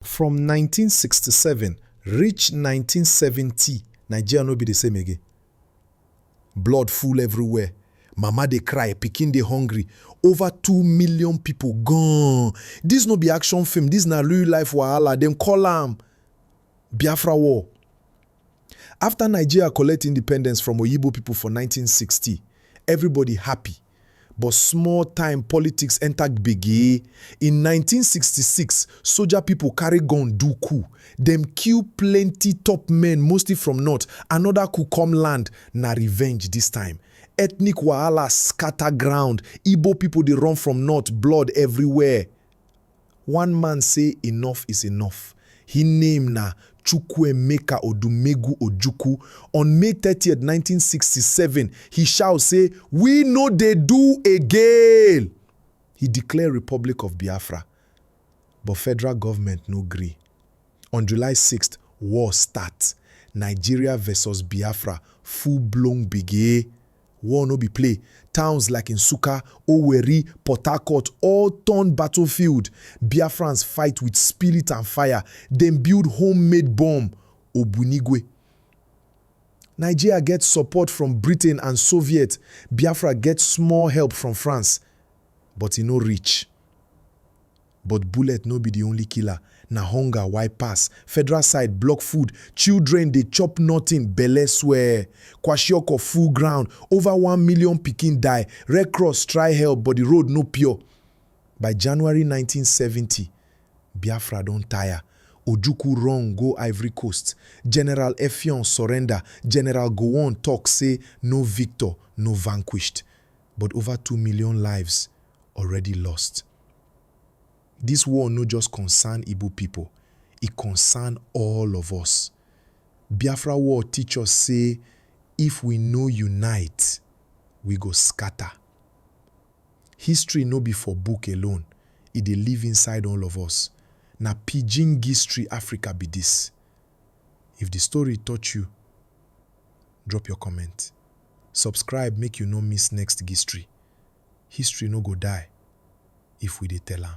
From nineteen sixty seven reach nineteen seventy Nigeria no be the same again. Blood full everywhere, mama dey cry, pikin dey hungry, over two million people gone. This no be action film, this na real life wahala, dem call am Biafra war. After Nigeria collect independence from Oyibo people for nineteen sixty, everybody happy. But small time politics enter gbege. In nineteen sixty six, soja people carry gun do coup. Dem kill plenty top men mostly from north. Another coup come land, na revenge this time. Ethnic wahala scatter ground, Igbo people dey run from north, blood everywhere. One man say enough is enough. Hin name na Chukwuemeka Odumegwu Ojukwu. On May thirtieth, nineteen sixty seven, he shout say, We no dey do again! He declare Republic of Biafra, but federal government no gree. On July sixth, war start. Nigeria versus Biafra full blown gbege. War no be play, towns like Nsukka, Owerri, Port Harcourt all turn battlefield, Biafrans fight with spirit and fire, dem build home-made bomb, Ogbunigwe. Nigeria get support from Britain and Soviet, Biafra get small help from France, but e no reach. But bullet no be di only killer, na hunger wide pass, Federal side block food, children dey chop nothing, belle swell, kwashiorkor full ground, over one million pikin die, Red Cross try help but di road no pure. By January nineteen seventy, Biafra don tire, Ojukwu run go Ivory Coast, General Effiong surrender, General Gowon talk say no victor, no vanquished, but over two million lives already lost. Dis war no just concern Igbo pipo, e concern all of us. Biafra war teach us say if we no unite, we go scatter. History no be for book alone, e dey live inside all of us. Na pidgin gistory Africa be dis. If di story touch you, drop your comment. Subscribe make you no miss next gistry, history no go die if we dey tell am.